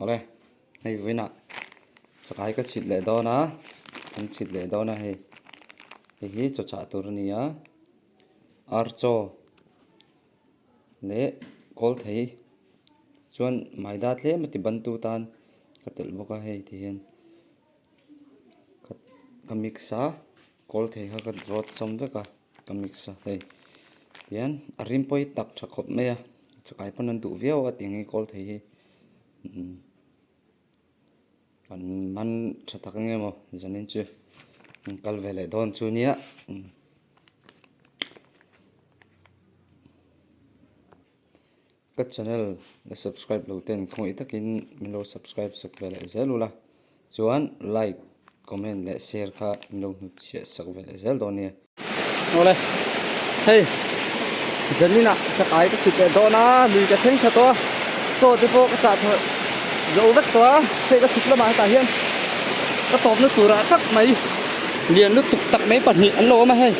Awle hei vawiinah chakai ka chhit leh dawn a, kan chhit leh dawn a hei. Hei hi chaw chah tur a ni a, ar chaw leh kawl thei chuan maida tlem a ti bantu tan ka telh bawk a hei ti hian ka mix a. Kawl thei kha ka rawt sawm vek a, ka mix a hei tian a rinpawih tak tha khawp mai a, chakai pawn an duh viau a tiang hi kawl thei hi umm an man tha tak eng emaw zanin chu an kal ve leh dawn chu nia umm Ka channel la subscribe lo ten khawngaih takin min lo subscribe sak ve leh zel ula, chuan like, comment leh share kha min lo hnu chiah sak ve leh zel dawn nia. Awle, hei Janin ah ka kai ka chhit leh dawn a, lui ka thleng tha tawh a, chaw te pawh ka chah tha zo vek tawh a, hei ka chhuk lamah hetah hian ka tawpna tur ah tak mai lian lutuk tak mai pahnih an lo awm a hei,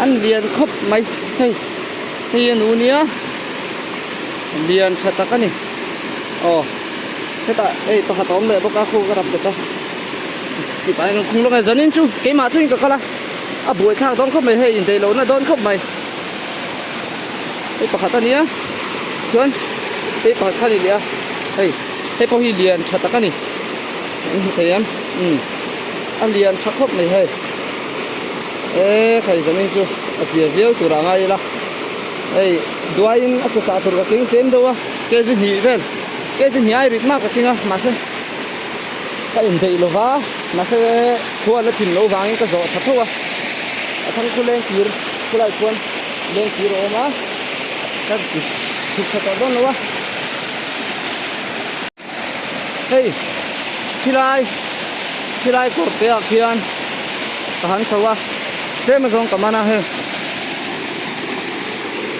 an lian khawp mai hei. hei a nu nia lian tha tak a ni aw hetah hei pakhat a awm leh bawk a khaw ka rap tawp a hetah hian khung lawngah zan in chu keimah chu in ka kal a a buai thlak dawn khawp mai hei indaih lohna dawn khawp mai hei pakhat a nia chuan hei pakhat kha a ni leh a hei hei pawh hi lian tha tak a ni kan hmu thei ang imm a lian tha khawp mai hei. e khaih zawngin chu a zia viau tur a ngai ila hei duaiin a che chah tur ka keng tlem deuh a K G hnih vel K G hnih ai rit mak ka keng a mahse ka inbeih lova mahse khua la thin loh vangin ka zawh tha thauh a a thang khu leng tir khulai chuan leng tir a awm a ka dik chhuk tha tawh dawn lo a. Hei, khilai, khilai kawr teah khian ka han chho a, tlema zawng ka man a heng.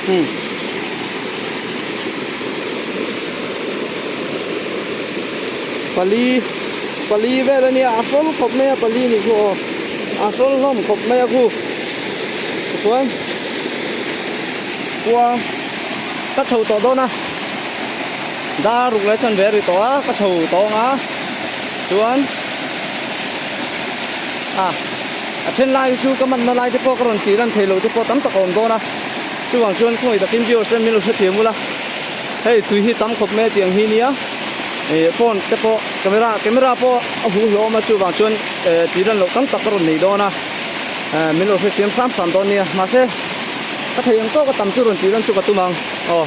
Hmm. Pali, pali vel a nia, a hrawl khawp mai a pali nih chu aw, a hrawl hlawm khawp mai a khu. Tichuan, kua ka chho tawh dawn a. Dar ruk leh chanve ri tawh a ka chho tawng a chuan a a then lai hi chu ka manna lai te pawh ka rawn tih ran thei lo te pawh tam tak a awm dawn a chuvang chuan khawngaih takin viewers hian min lo hre thei mul a hei tui hi tam khawp mai a tiang hi nia eh phone te pawh camera camera pawh a hu hlawm a chuvang chuan eh tih ran loh tam tak ka rawn nei dawn a eh min lo hrethiam hram hram dawn nia mahse ka thei ang tawk a tam chu rawn tih ran chu ka tum ang aw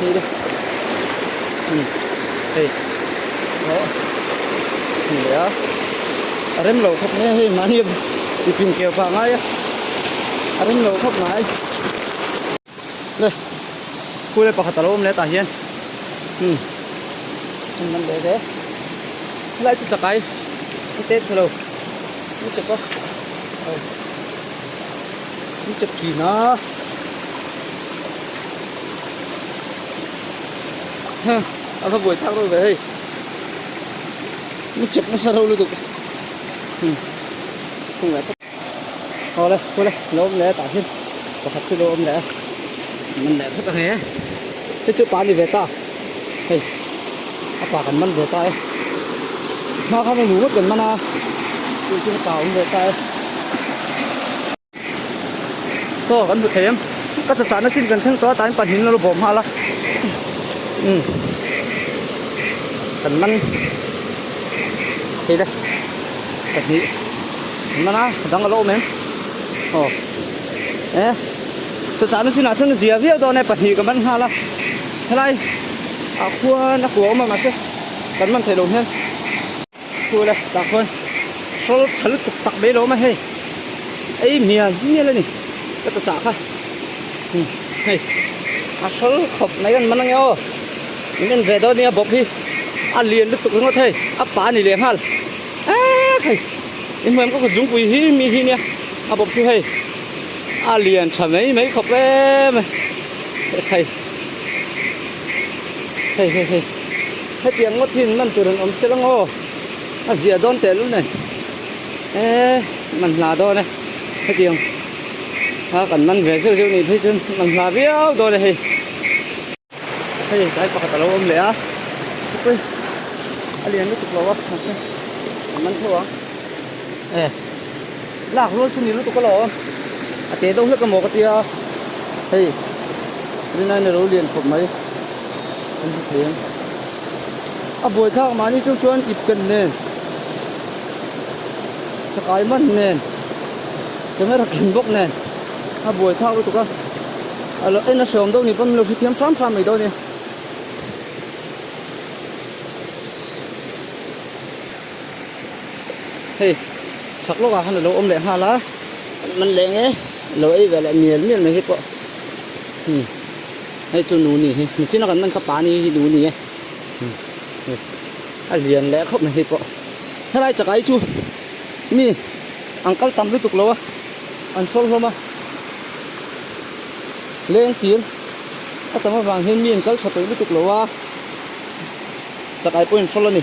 Hei de. Hei. Hei. Hei. Hei de a. A rem lo khop nge hei mani i pin keu pa ngai a. A rem lo khop ngai. Le. Kule pakhat alo awm le tah hian. Hmm. Hei man de de. Helai chu chakai. Ni te chhe lo. Ni te pawh. Au. Ni chep thin a. Ha, a la boi thak lo ve hei. Ni chep na sa lo lu tuk. Hmm. Khung le. Ho le, ho le, lo om le ta hin. Pakhat chu lo om le. Min le phut a nge. Te chu pa ni ve ta. hei a pa kan man ve ta e hma kha hei nu vawt kan man a tih chu ka ta awm ve ta e so kan hmu thei em ka cha chahna chin kan thleng tawh a tain pahnih in a lo bawm nghal a um kan man heile pahnih kan man a dang a lo awm em aw e cha chahna chinah thleng zia viau dawn e pahnih ka man nghal a Helai ah khuan a kuau a awm a mahse kan man thei lo hian thu la tah khuan hrawl tha lutuk tak mai a lo awm a hei ei mian mial a ni ka ta chah kha hei a hrawl khawp mai kan man ange aw min en ve dawn nia bawp hi a lian lutuk ringawt hei a pa a nih leh nghal ek hei i hmuiam ka kut zungpui hi mi hi nia a bawp chu hei a lian tha mai mai khawp em hei. Hei hei hei. Hetiang ngawt hi man tur an awm selang aw. A ziah dawn teh lul nen. E man hla dawn e. Hetiang a kan man ve zeuh zeuh nih phei chuan man hla viau dawn e hei. Hei tlai pakhat a lo awm leh a. Khawpui a lian lutuk lo a mahse kan man tho ang. E. Lak rual chu ni lutuk ala a, a teh deuh hlek ka maw ka tia, hei Rinain a lo lian khawp mai kan hre thei ang. A buaithlak mahni chu chuan ip ken nen, chakai man nen, camera ken bawk nen a buaithlak lutuk a, a lo en a hreawm deuh ni pawn min lo hrethiam hram hram mai deuh a ni. hei chak lawkah khan a lo awm leh nghal a an man leh nge a lo ei ve leh mial mial mai hi pawh hmm hei chu nu ni hi nichin a kan man kha pa ni hi nu ni e hmm hei a lian leh khawp mai hi pawh helai chakah hi chu mi an kal tam lutuk lo a an sawi hlawm a leng tir a tam avang hian mi an kal tha tawh lutuk lo a chakai pawhin a sawi a ni.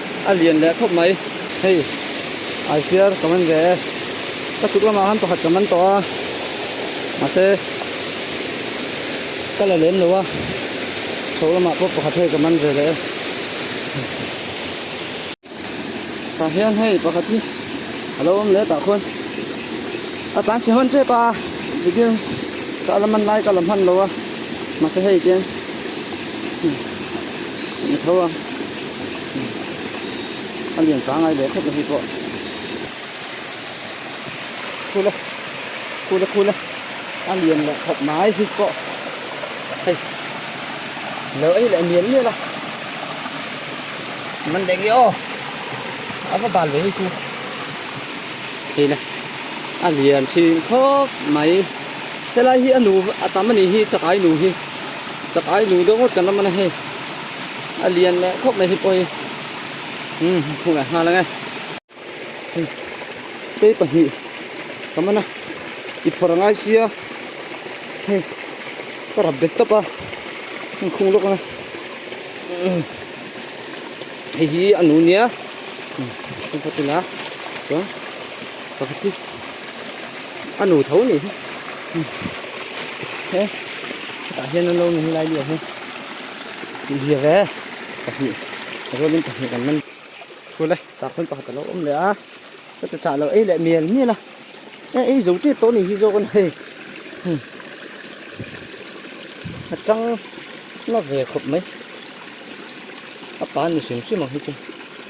a lian leh thawp mai. Hei Aifiar ka man ve e, ka chuk lamah khan pakhat ka man tawh a, mahse ka la lem lo a, chho lamah pawh pakhat hei ka man ve leh e. Tah hian hei pakhat hi a lo awm leh tah khawn a tlan chhe hawn che pa a, video ka a la man lai ka la hman lo a, mahse hei hian ni tho a. a lian tha ngai leh khet a hi pawh khula khula khula a lian leh khawp mai hi pawh hei lo ei leh mial mial a man leng i aw a va bal ve hi chu hei na a lian thin khawp mai helai hi a nu a tam a nih hi chakai nu hi chakai nu deuh ngawt kan lam a na hei a lian leh khawp mai hi pawh hi umm hmuh leh nghal ang e kei pahnih ka man a i phawrh a ngai sia hei ka rap bet tawp a heng khung lawk ang a umm hei hi a nu nia umm heng pawh tila chuan pakhat hi a nu tho anih hi umm he hetah hian an lo ni hi lai leh hi. Tih ziah ve. Pahnih a zawt in pahnih kan man phul e. Tah khawn pakhat a lo awm leh a. Ka che chah lo ei leh mial mial a. E ei zo ṭep tawh a nih hi zawk a ni hei. Hmm. A ṭang na ve khawp mai. A pa ni hrim hrim ang hi chu.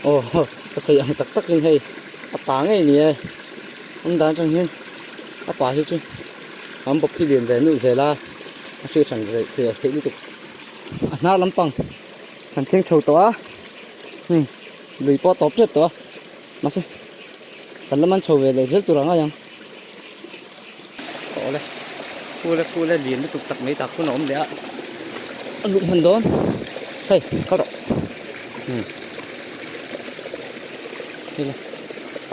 Aw ho, ka sawi ang tak takin hei a pa ngei ni e. Awm dan aṭang hian a pa hi chu an bawp hi lian ve nuh zel a, a hriat hran theih lutuk. a hna lampang han thleng chho tawh a hei lui pawh a tawp tep tawh a mahse kan la man chho ve leh zel tur ang ai ang tawh le pule pule lian lutuk tak mai tak pawn a awm leh a a luh hman dawn hei ka rawh hmm hei la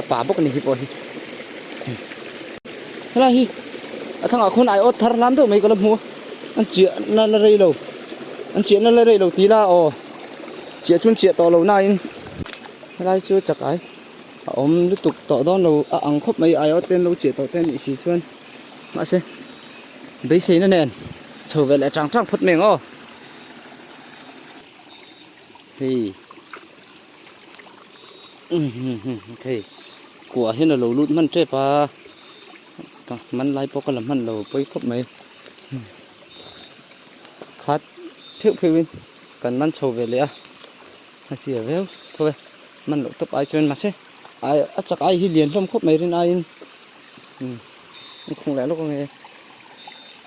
a pa bawk a ni hi pawh hi helai hi a thlang ah khawn aiawt thar hlan deuh mai ka la hmu a an chiah na la rei lo an chiah na la rei lo tih la aw chiah chu an chiah tawh lo na in helai chu chakai a awm lutuk tawh dawn lo a ang khawp mai aiawt te an lo chiah tawh te a nih si chuan mahse beisei na nen chho ve leh chang chang phawt mai ang aw hei um hum hum hei kuah hian a lo lut hman tep a man lai pawh ka la hman lo pawi khawp mai, khat pheuh pheuh in kan man chho ve leh a, a sir viau tho e, man loh tawp ai chuan mahse ai a chak ai hi lian hlawm khawp mai rin aiin, ikhung leh lawk ange.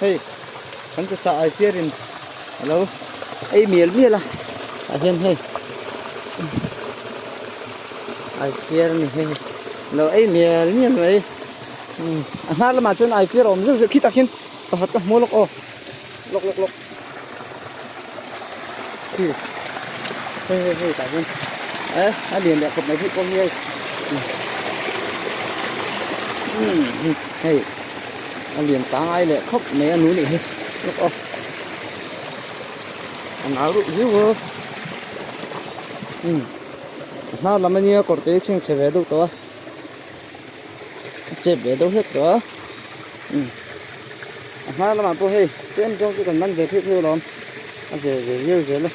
Hei kan ta chah ai piar in a lo ei mial mial a tah hian hei ai piar ni hei lo ei mial mial mai a hma lamah chuan ai piar awm zeuh zeuh khi tak in pakhat ka hmu lawk aw lawk lawk lawk. Hei hei hei hei tah hian eh a lian leh khawp mai bik bawk hi hei umm hei a lian ta ngai leh khawp mai a nu nih hi look aw a nau ruh ziau a umm a hma lam ania kawr te hi a chhengchhe ve deuh tawh a. a chet ve deuh hlek tawh a, umm a hma lamah pawh hei tlem zawng chu kan man ve pheuh pheuh alawm, a zir ve viau zel a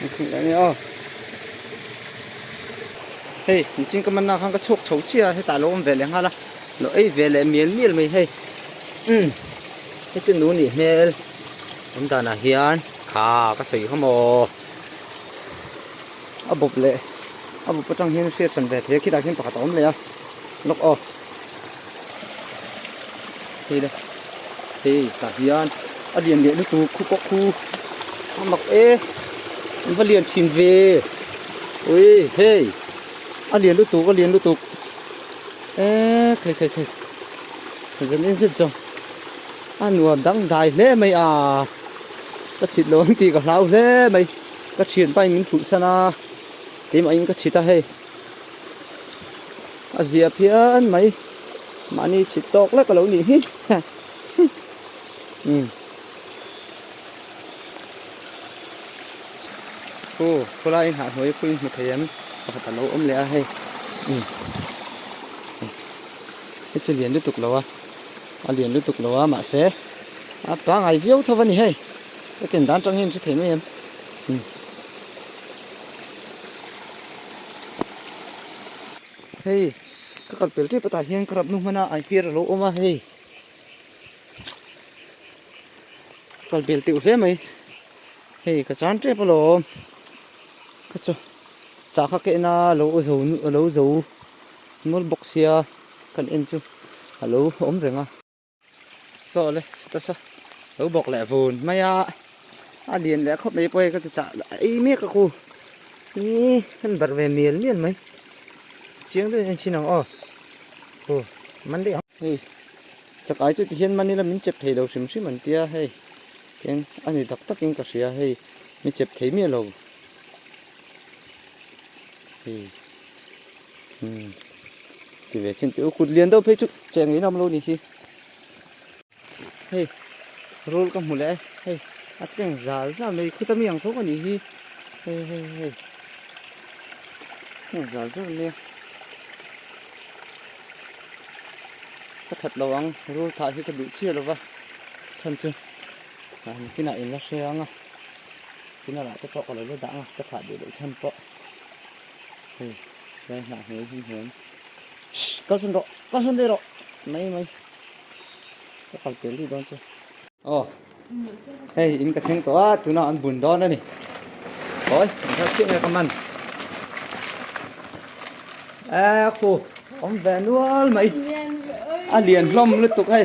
niphun leh ania aw. Hei inching ka manna khan ka chhuak chho chiah a, hetah lo awm ve leh nghal a, lo ei ve leh mial mial mai hei, umm hei chu nu nih hmel awm danah hian tha ka sawi kha maw. a bawp leh a bawp atang hian hriat chhan ve thei a khitah khian pakhat a awm leh a lawk aw hei de hei tah hian a lian leh lutu khu pawh khu a mak e an va lian thin ve ui hei a lian lutuk a lian lutuk e thei thei thei zan en zet zawng a nuam dangdai hle mai a ka chhit loh ang tih ka hlau hle mai. Ka chhiat bai min thuh san a, keimah in ka chhit a hei. A zia phian mai, mahni chhit tawk lek a lo nih hi. Umm. Hu, khawlaiin hahnuai pui hmu thei em? Pakhat a lo awm leh a hei. Umm. Hi chu lian lutuk lo a, a lian lutuk lo a, mahse a pangai viau tho a ni hei. Hethian dan tang hian a hre thei mai em. Hei, ka kal pel tep atah hian ka rap nu hmana an fir a lo awm a hei. Kal bel teuh hle mai. Hei, ka chan tep alawm. Ka chu chah kha kehna lo zo lo zo nawlbawk sia kan en chu a lo awm reng a. Sawle, sita saw. Lo bawk leh vun mai a. A lian leh khawp mai pawh hei ka chi chah a ei mek a ku. Ii kan barh ve mial mial mai. Chiang deuhin a inthin ang aw. Aw man daih ang. Hei chakai chu tihian mani la min chep thei lo hrim hrim an tia hei. Tiang a ni tak takin ka hria hei mi chep thei miah lo. Hei. Hmm. Ti ve chin teu kut lian deuh phei chu che ngei lam lo ni hi. Hei. Rul ka mu le. Hei. A tleng zal zam mai khuta mi ang thawk a ni hi. Hei hei hei. Hei zal zam mai. Ka that lo ang rul thah hi ka duh chiah lo va. Than chu. Ka ni kina in la hre ang a. China lah te pawh ka lo la dah ang a. Ka thah duh lo than pawh. Hei, tlai hnah hmel hlim hlim. Shh, kal sun rawh, kal sun daih rawh. Mai mai. Ka kal tel ri dawn chu. Aw. Hei, in ka thleng tawh a, tuna an bun dawn a ni. Oi, an thar chiah nge ka man. Ê khu, awm ve nual mai. A lian hlawm lutuk hei.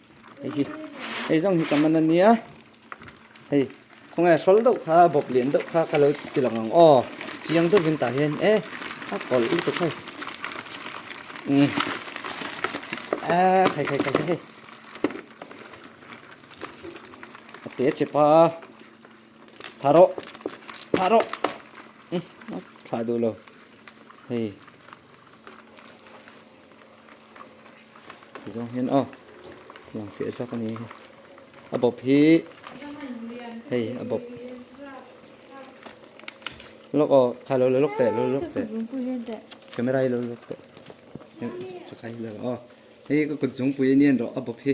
Hei hi, hei zawng hi ka man a nia. Hei, khawnge a hrawl deuh kha, a bawp lian deuh kha ka lo ti lang ang aw. Chiang deuh in tah hian e, a kawl lutuk hei. Nge. A, khai khai khai hei. A te che pa. Tha ro. Tha ro. Tha du lo. Hei. zawng hian aw lang fiah zak a ni a bawp hi hei a bawp lawk aw kha lo lawk teh lo lawk teh camera hi lo lawk teh chu khai hi lo aw hei ka kutzungpui aniang rawh a bawp hi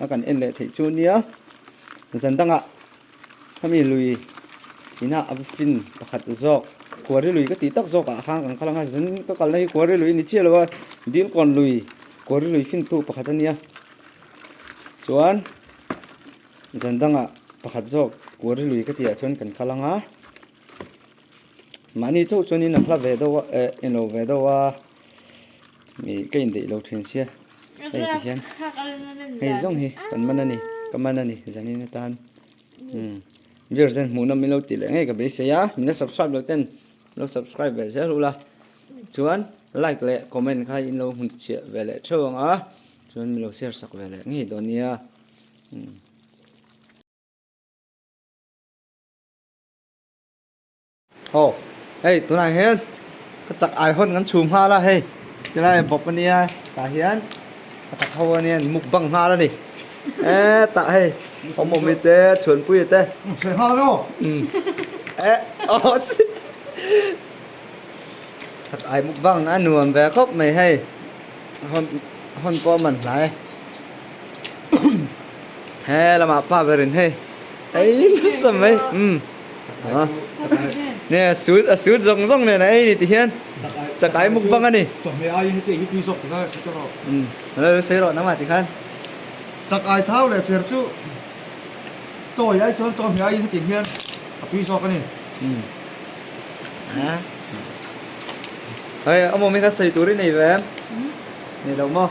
a kan en leh theih chu nia zan dangah khami lui ina a fin pakhat zawk kua ri lui ka tih tak zawk ah khan kan kal ang a zan ka kal na hi kua ri lui ni chiah lo a dil kawn lui kua ri lui fintu pakhat a nia chuan zan dangah pakhat zawk kua ri lui ka tih ah chuan kan kal ang a mahni chauh chuan in a hla ve deuh a eh en lo ve deuh a Hei ka indaih lo thin sia hei ti hian hei zawng hi kan man a ni ka man a ni zanin atan umm viewers ten hmuh nawm min lo tih leh ngei ka beisei a min la subscribe loh ten lo subscribe ve zel ula chuan like leh comment kha in lo hun chhiah ve leh theuh ang a chuan min lo share sak ve leh ngei dawn nia umm Aw, hei tunah hian ka chak ai hawn kan chhum nghal a hei, ti lai bawk a nia. Tah hian ka tak ho a nia, mukbang nghal a ni. Eh, tah hei, awmawmi te, chhuanpui te. Sawi nghal emaw? Umm. Eh, aw chi. Chak ai mukbang a nuam ve khawp mai hei. Hawn pawh a man hnai. He lama pa berin hei ei nasa mai um ah ne a sut a sut zawng zawng nen a ei ni tih hian chakai mukbang a ni chawhmeh aiin heti hi tui zawk takzai a si chuang a lo sawi rawh nang mah ti khan chakai thau leh chher chu chawi ai chuan chawhmeh aiin heti hian a tui zawk a ni um ah hei a mawmi kha sawi tur i nei ve em nei lo maw.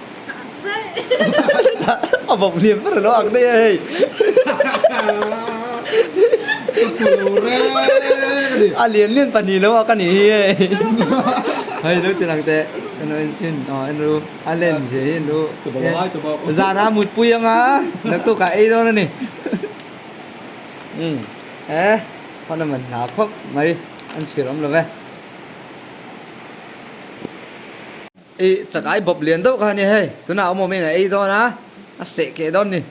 a bawmh hliam ber a lo ang daih a hei. A lian lian pahnih lo a ka nih hi hei. Hei lo ti lang teh ka lo en chin aw en ru a len ziah hi en ru zana a mut pui ang a naktuk ah ei dawn a ni umm e pawn a man hna khawp mai an chhir awm lo ve. I chakai bawp lian deuh kha a nia hei, tunah awm awmin a ei dawn a, a seh keh dawn ni.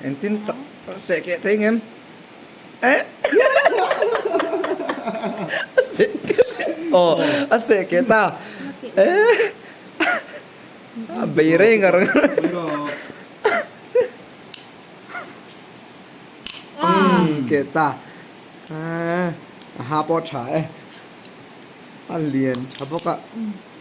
Engtin ka seh keh thei ngem? A seh keh thei ngem? Aw, a seh keh ta. A bei rei ngar ngar. Keh ta. A ha pawh a tha e. A lian tha bawk a.